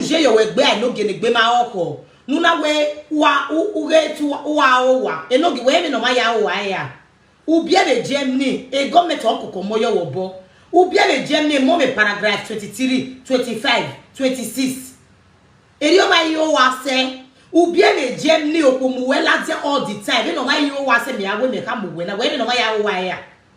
je yo we gbe ai no gene gbe ma oko nuna we wa u u ge tu wa o wa e no gi we me no ma ya o wa ya u bia de je ni e government o koko mo yo wo bo u bia de je ni mo me paragraph 23 25 26 eri o ma yo wa se u bia de je ni o ko mu we la je all the time e no ma yo wa se me awe me ka mu we na we me no ma ya o wa ya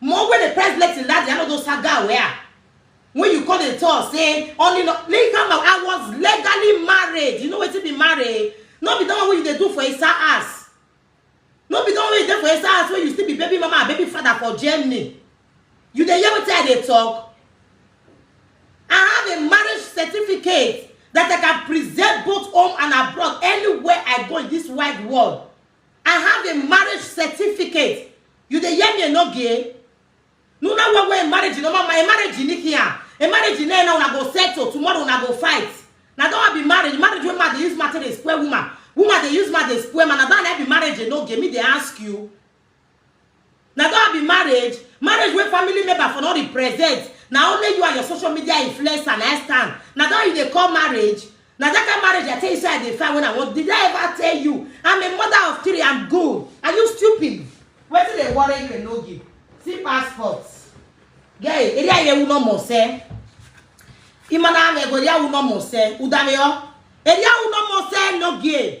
Mo wey dey press blessing that day, I no know saga where. When you come dey talk say only no, leave am out. I was legally married. You know wetin be married? No be the one wey you dey do for Esa house. No be the one wey you dey for Esa house wey you still be baby mama and baby father for Germany. You dey hear wetin I dey talk? I have a marriage certificate that I can present both home and abroad anywhere I go in this wide world. I have a marriage certificate. You dey hear me enogie? No na one way marriage no mama, a marriage in here. A marriage in there now una go settle, tomorrow una go fight. Na don be marriage, marriage wey man dey use matter dey spoil woman. Woman dey use man dey spoil man, na don be marriage enogie, me dey ask you. na don be marriage marriage wey family member for no represent na only you and your social media influencer na stand na don you dey call marriage na that kind marriage i tell you say i dey find when i want did i ever tell you i'm a mother of three i'm good are you stupid wetin dey worry you enogi see passport gay eri aye wu no mo se imana ame go ya wu no mo se udame o eri awu no mo se enogi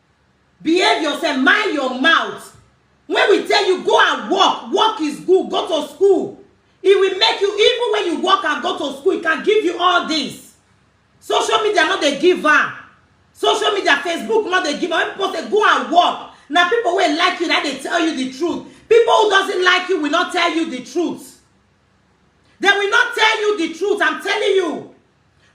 behave yourself mind your mouth when we tell you go and work work is good go to school it will make you even when you work and go to school it can give you all this social media no dey give am social media facebook no dey give am when people say go and work na people wey like you na dey tell you the truth people who doesn't like you will not tell you the truth they will not tell you the truth i'm telling you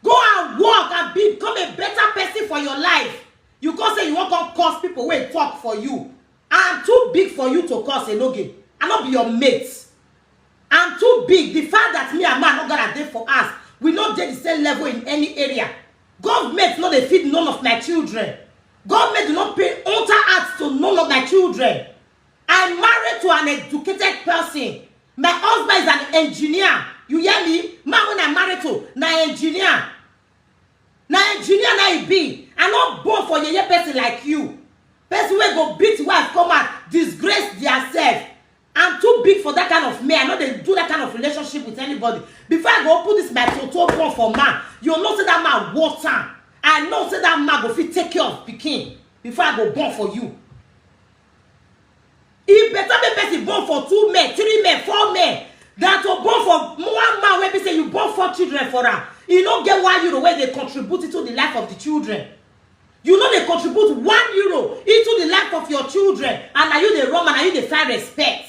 Go and work and become a better person for your life. You come say you wan come curse people wey talk for you. I'm too big for you to curse Enoge. I no be your mate. I'm too big. The fact that me and man no gonna dey for us, we no dey the same level in any area. Government no dey feed none of my children. Government do not pay enter out to none of my children. I married to an educated person. My husband is an engineer. You hear me? Man when I married to, na engineer. Na engineer na he be. I no born for yeye person like you. Person wey go beat wife come out, disgrace theirself. I'm too big for that kind of men. I no dey do that kind of relationship with anybody. Before I go open this my photo phone for man, you know say that man worth am. I know say that man go fit take care of pikin before I go born for you. e better make person born for two men three men four men than to born for one man wey be say you born four children for am e no get one euro wey dey contribute into the life of the children you no dey contribute one euro into the life of your children and na you dey run and na you dey find respect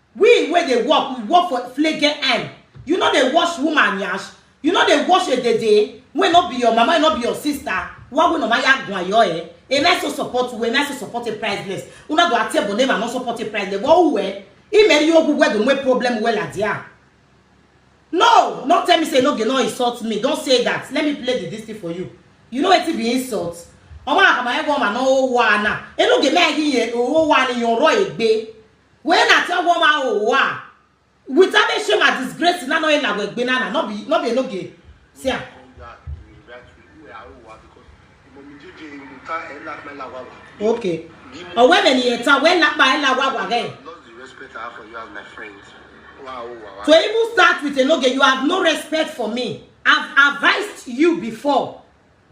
We wey dey work, we work for flege eye. You no dey wash woman yansh? You no dey wash edede wey no be your mama, wey no be your sister? Wa we no ma ya gwan yo eh. Am I so support u? Am I so support a priceless? Una do atie bone ma no support a priceless. Wa u eh? I me ri ogu we do mwe problem we la dia. No, no tell me say no ge no insult me. Don't say that. Let me play the this thing for you. You know wetin be insult? Ọmọ akama ego ma no o wa na. E no ge me agi ye o wa ni yon ro egbe. When I tell one man, oh, wow. Without me shame and disgrace, na no e na we gbe na na, no be, no be no ge. See am. Okay. Or when any eta, when na ba ela wa wa ge. Lost the respect I have for you as my friend. Wow, wow, To wow. even start with a no ge, you have no respect for me. I've advised you before.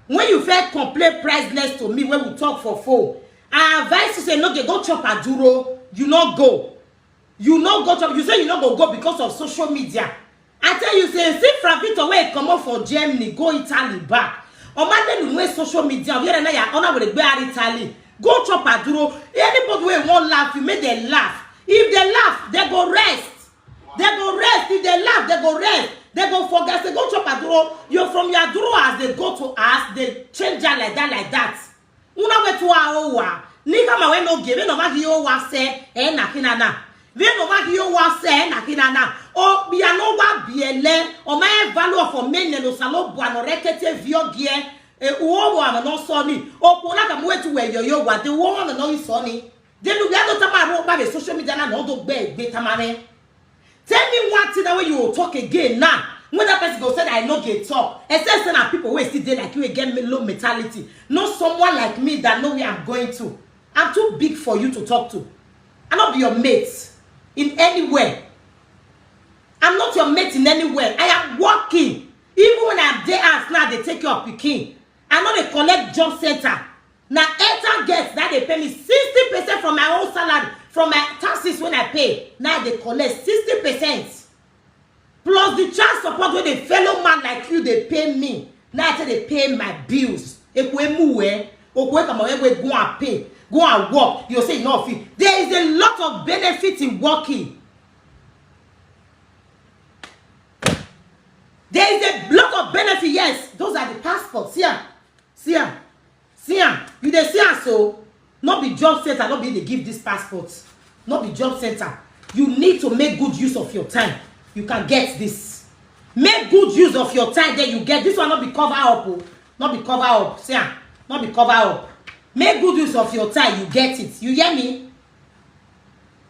When you first complain priceless to me when we talk for phone, I advise you say no dey go chop aduro, you no go. You no go chop, you say you no go go because of social media. I tell you say see Fravito wey comot for Germany go Italy back. Omadenu wey social media where na ya ona were gbe ari Italy. Go chop aduro. Anybody wey wan laugh you make dem laugh. If dem laugh, dem go rest. They go rest if they laugh, they go rest. They go forget, they go chop aduro. You from your aduro as they go to us, they change that like that, like that. Una we to our owa. Nika ma we no give, we no ma give owa se, eh na kina na. We no ma give owa se, eh na kina na. O bi ano wa biele, o ma e value of o men no salo bu ano rekete vio gie. E uo wa no so ni. O ko na ka mu we to we yo yo wa, de uo wa no so ni. Denu we ado tamaro oba be social media na no do gbe gbe tamare. Tell me one thing that way you will talk again now. When that person go say that I no get talk, except say na people wey still dey like you wey get me low mentality, not someone like me that know where I'm going to. I'm too big for you to talk to. I no be your mate in anywhere. I'm not your mate in anywhere. I am working. Even when I'm there house now, they take your pikin. I know they collect job center. na airtime guest na dey pay me sixty percent from my own salary from my taxes wey i pay na i dey collect sixty percent plus the child support wey the fellow man like you dey pay me na i take dey pay my bills ekwe muwe okwe kama ekwe go and pay go and work you say you no fit there is a lot of benefit in working there is a lot of benefit yes those are the passports see am see am See am, you dey see am so? No be job center, no be you dey give this passport. No be job center. You need to make good use of your time. You can get this. Make good use of your time, then you get this one. No be cover up, oh. no be cover up. See am, no be cover up. Make good use of your time, you get it. You hear me?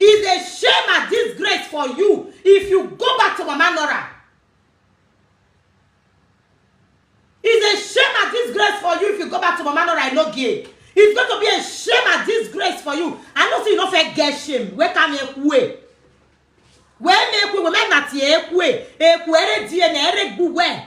Is a shame and disgrace for you if you go back to Mama Nora. Is a shame and disgrace for you if you go back to Mama Nora and no gay. It's going to be a shame and disgrace for you. I know say you no fit get shame. Where can you way? Where make we women that ye ekwe ekwe ere die na ere gbuwe.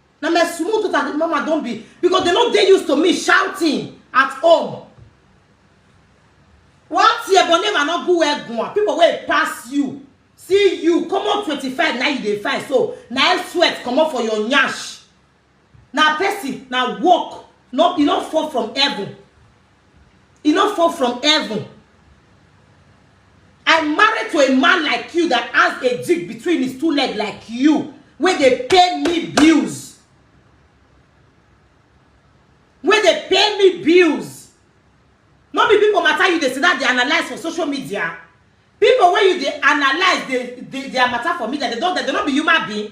na my small daughter the mama don be because they no dey used to me shouting at home one tear but name i no go well gwan people wey pass you see you comot twenty-five na you dey find so na air sweat comot for your nyash na person na work no e no fall from heaven e no fall from heaven i marry to a man like you that has a jig between his two leg like you wey dey pay me bills wey dey pay me bills no be people matter you dey sit down dey analyse for social media people wey you dey analyse dey dey their matter for media they don they no be human being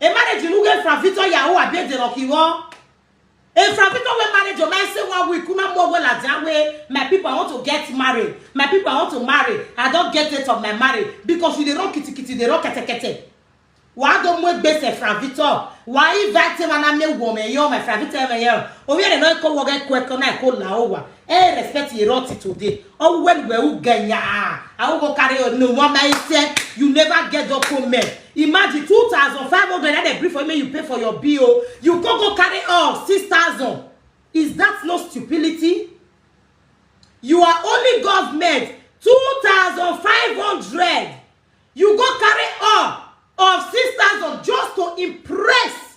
Emarriage nuge from Victor Yahoo abie de rocky wo. If from Victor we marriage, your man say one week, kuma more well as that way. My people, I want to get married. My people, I want to marry. I don't get it of my marriage because you dey rock kitty kitty, dey rock kete kete. Why don't we base a from Victor? Why invite him and I may woman, yo, my from Victor, my yo. Obi ere no ko woga kweko na ko la owa. e respect ye rot today oh when we u get ya i go carry your no one man say you never get your comment imagine 2500 that they bring for me you pay for your bill you go go carry off 6000 is that no stupidity you are only government 2500 you go carry off of 6000 just to impress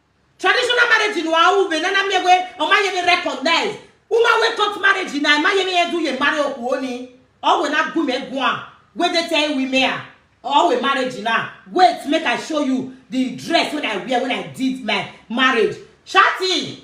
traditional marriage no awu be nana mi we o ma ye me recognize uma we cut marriage na ma ye me ye du ye marry oku oni o we na gu me gu am we dey tell we me ah or we marriage now wait make i show you the dress wey i wear when i did my marriage shati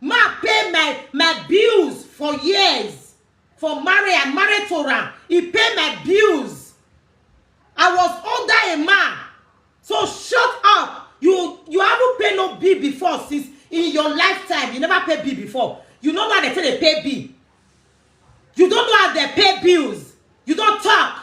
man pay my my bills for years for marriage i married to am he pay my bills i was under a man so shut up you you haven't pay no bill before since in your lifetime you never pay bill before you no know how dem take dey pay bill you don't know how dem pay bills you don talk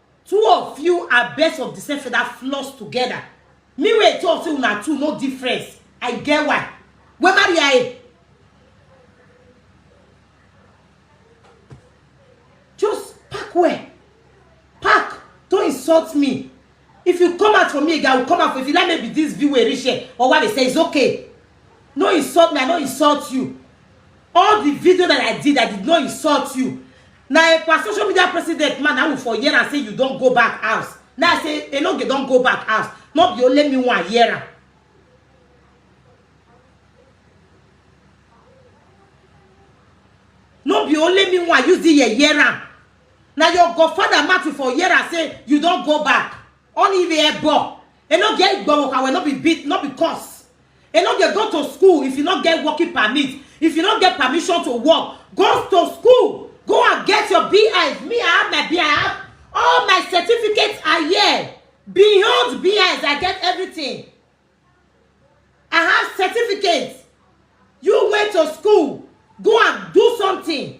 Two of you are birds of the same feather floss together. Me wey talk say una two no difference. I get why. Wey marry her eh? Just pack well. Pack. Don't insult me. If you come out for me again, I will come out for you. If you like maybe this view wey reach here or what they say is okay. No insult me, I no insult you. All the video that I did, I did not insult you. na ekpa social media president man i will for hear am say you don go back house now i say enoge don go back house no be only me wan hear am no be only me wan use the ear hear am na your godfather matthew for hear am say you don go back only the ear ball e no get igbowoka wey no be beat no be cause e no dey go to school if you no get working permit if you no get permission to work go to school go and get your bis me i have my bis i have all my certificates are here beyond bis i get everything i have certificates you went to school go and do something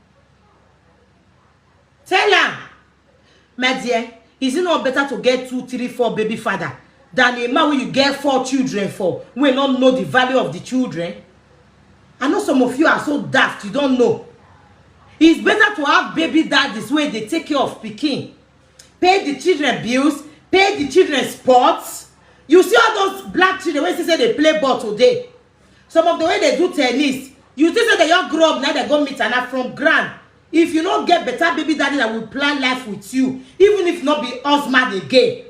Tell am, my dear, is it not better to get two, three, four baby father than a man wey you get four children for wey no know the value of the children? I know some of you are so daft, you don't know. It's better to have baby daddies wey dey take care of pikin, pay the children bills, pay the children sports. You see all those black children wey say say dey play ball today, some of the way they do tennis you think say they just grow up na they go meet ana from ground if you no get better baby daddy that will plan life with you even if no be husband again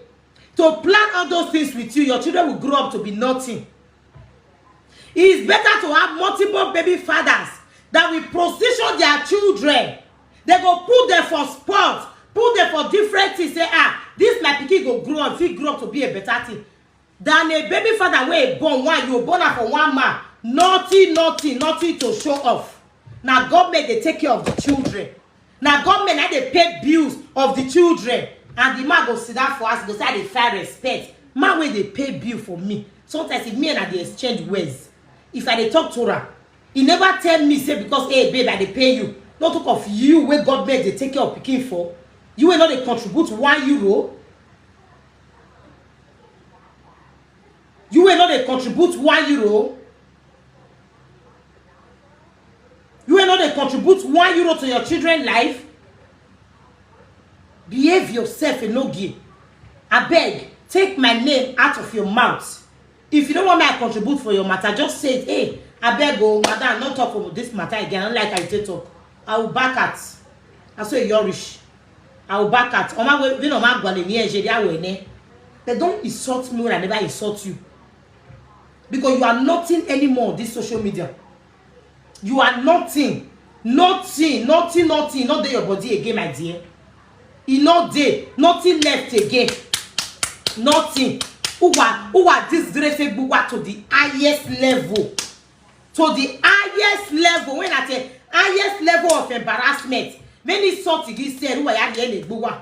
to plan all those things with you your children will grow up to be nothing it is better to have multiple baby fathers that will position their children they go put them for sport put them for different things say ah this my pikin go grow up fit grow up to be a better thing than a baby father wey born one you born am for one man nothing nothing nothing to show off na government dey take care of the children na government na dey pay bills of the children and the man go sit down for house go say i dey find respect man wey dey pay bill for me sometimes if me and i dey exchange words if i dey talk to am e never tell me say because hey babe i dey pay you no talk of you wey government dey take care of pikin for you wey no dey contribute one euro you wey no dey contribute one euro you wey no dey contribute one euro to your children life behave yourself enogie abeg take my name out of your mouth If you don't want me to contribute for your matter, just say it. Hey, I beg oh, madam, not talk about this matter again. I don't like I take talk. I will back at. I say you're rich. I will back at. Oma we we no ma gwale ni eje dia we ne. They don't insult me when I never insult you. Because you are nothing anymore on this social media. you are nothing nothing nothing nothing e no dey your body again my dear e no dey nothing left again nothing uwa uwa disgrace egbuwa to the highest level to the highest level when at a highest level of embarrassment when he saw to this said uwa ya dey egbuwa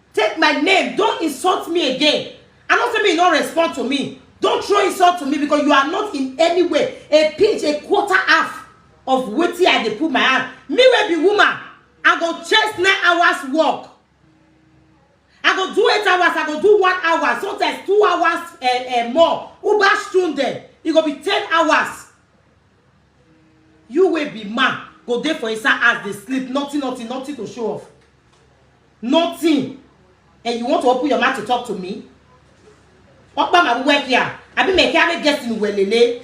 Take my name, don't insult me again. I know say me you no respond to me. Don't throw insult to me because you are not in any way a pinch, a quarter half of wetin I dey put my hand. Me wey be woman, I go chase nine hours work. I go do eight hours, I go do one hour, sometimes two hours uh, uh, more. Uber Stunde, e go be ten hours. You wey be man go dey for inside house dey sleep, nothing, nothing, nothing to show off. Nothing. And you want to open your mouth to talk to me? Okpa ma wuwe kia. Abi me kia me guest in welele.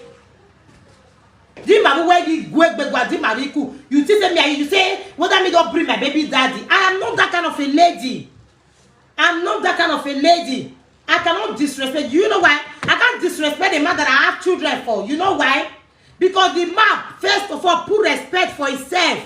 Di ma wuwe di gwe gwe gwa di ma riku. You think say me are you say whether me don't bring my baby daddy. I am not that kind of a lady. I'm not that kind of a lady. I cannot disrespect. You know why? I can't disrespect the man that I have children for. You know why? Because the man, first of all, put respect for himself.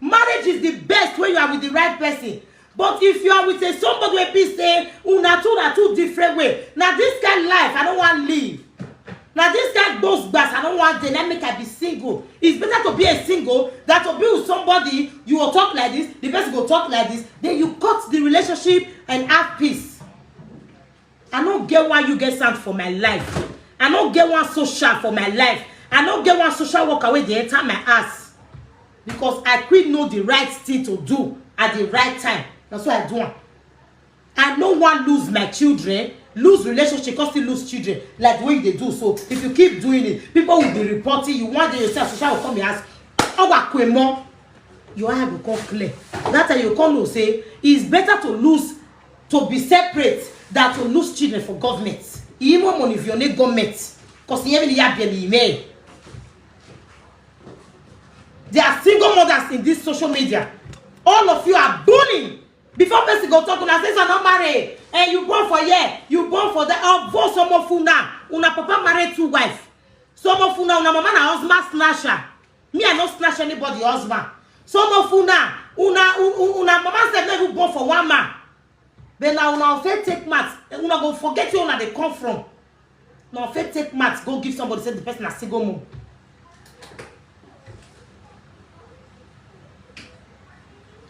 marriage is the best when you are with the right person but if you are with a somebody wey be say una two na two different way na this kind life i no wan live na this kind gbos gbas i no wan dey na make i be single it's better to be a single than to be with somebody you go talk like this the person go talk like this then you cut the relationship and have peace I no get one you get sound for my life. I no get one social for my life. I no get one social worker wey dey enter my ass. Because I quick know the right thing to do at the right time. Na so I do am. I no wan lose my children, lose relationship, come still lose children like the way you dey do so. If you keep doing it, people will be reporting you. One day you say social will come your house. Owa kwemo, your eye go come clear. That time you come know say it's better to lose to be separate than to lose children for government. Imo money if you need government. Because you even have them email. There are single mothers in this social media. All of you are bullying. Before person go talk, una say you not married. And eh, you born for here, you born for there. I'll born some of una. Una papa married two wife. Some of una, una mama na husband snatcher. me i no snatch anybody husband some of una una una una mama sef no even born for one man then na una fit take mat una go forget where una dey come from una fit take mat go give somebody say the person na single mom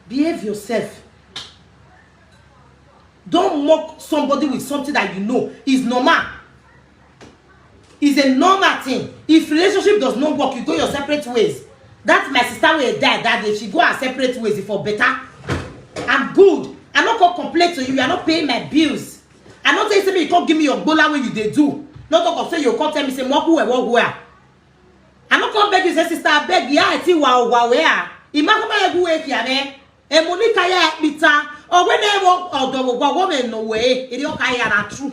behave yourself don mock somebody with something that you know is normal is a normal thing if relationship does not work you go your separate ways that my sister wey die that day she go her separate ways e for better i'm good i no come complain to you i no pay my bills i no tell you say make you come give me your gbola wey you dey do no talk of say you come tell me say mo ku ewo gu a i no come beg you say sister abeg ya i ti wa owa we a imakoma egu we kia me emonika ya ekpita owe na ewo odowo gwa wo me no we iri oka ya na true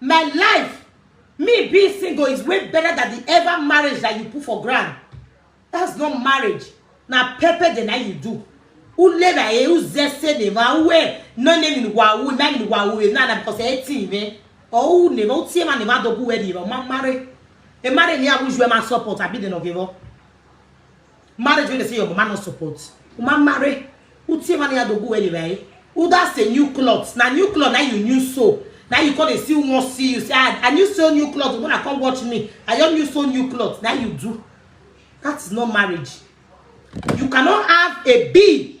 my life me being single is way better than the ever marriage that you put for ground that's not marriage na pepper the night you do ule na e uze se ne ma uwe no ne ni wa u na ni wa u na na because e ti me o u ne ma u ti ma ne ma dogu we di ma marry e marry ni abuju e ma support abi de no give up Marriage wey dey say your mama no support. Uma marry. Utie man ya dogu anyway. Uda say new clothes. Na new clothes na you new so. Now you come dey see one see you say I, I new sew new clothes. You wanna come watch me? I just new sew new clothes. Now you do. That is not marriage. You cannot have a bee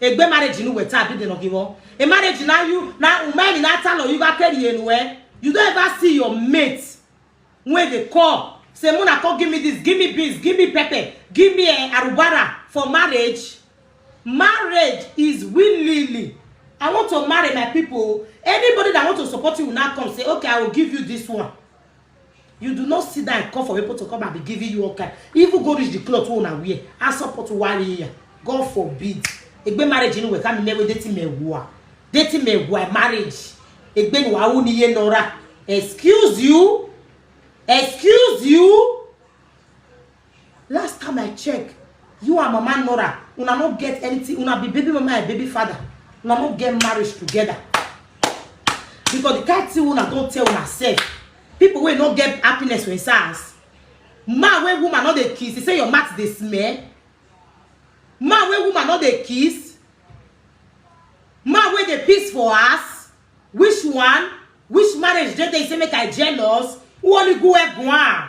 egbe marriage nu weta abi deno giwo e marriage na you na umemi na talo you ga carry enu eh you don't ever see your mate when they call say muna come give me this give me beans give me pepper give me uh, arubara for marriage marriage is willingly i want to marry my people anybody that want to support you will now come say okay i will give you this one you do not see that call for people to come and be giving you all kind even go reach the cloth wey una wear and support warrior god forbid egbe marriage ni weta mi mewe dating me wua dating me wua marriage egbe ni wa wu ni ye nora excuse you excuse you Last time I check, you and Mama Nora, una no get anything. Una be baby mama and baby father. Una no get marriage together. Because the kind thing una don tell una sef. People wey no get happiness for inside house. Man wey woman no dey kiss, he say your mouth dey smell. Man wey woman no dey kiss. Man wey dey piss for house. Which one? Which marriage dey there? He say make I jealous. Who only go egg one?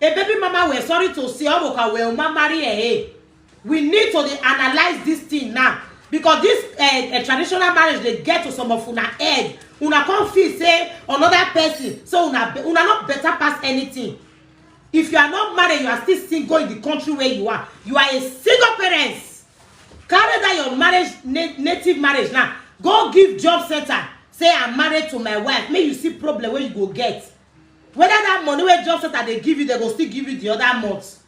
A baby mama we're sorry to say Omoka will ma marry eh, eh. We need to dey analyze this thing now because this eh, eh, traditional marriage dey get to some of una head. Una come feel say another person so una be- una not better pass anything. If you are not married, you are still single in the country where you are. You are a single parent. Carry that your marriage na- native marriage now. Go give job center. Say I'm married to my wife. Make you see problem where you go get. whether that money wey job center dey give you dem go still give you the other month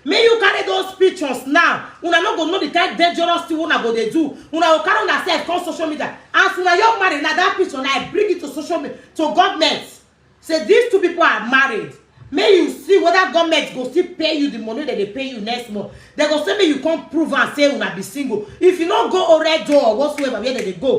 make you carry those pictures now una no go know the kind dangerous thing una go dey do una go carry una sef come social media as una your married na that picture na i bring it to social media to government say these two people are married make you see whether government go still pay you the money dem dey pay you next month dem go say make you come prove am say una be single if you no go oredo or whatsoever where dem dey go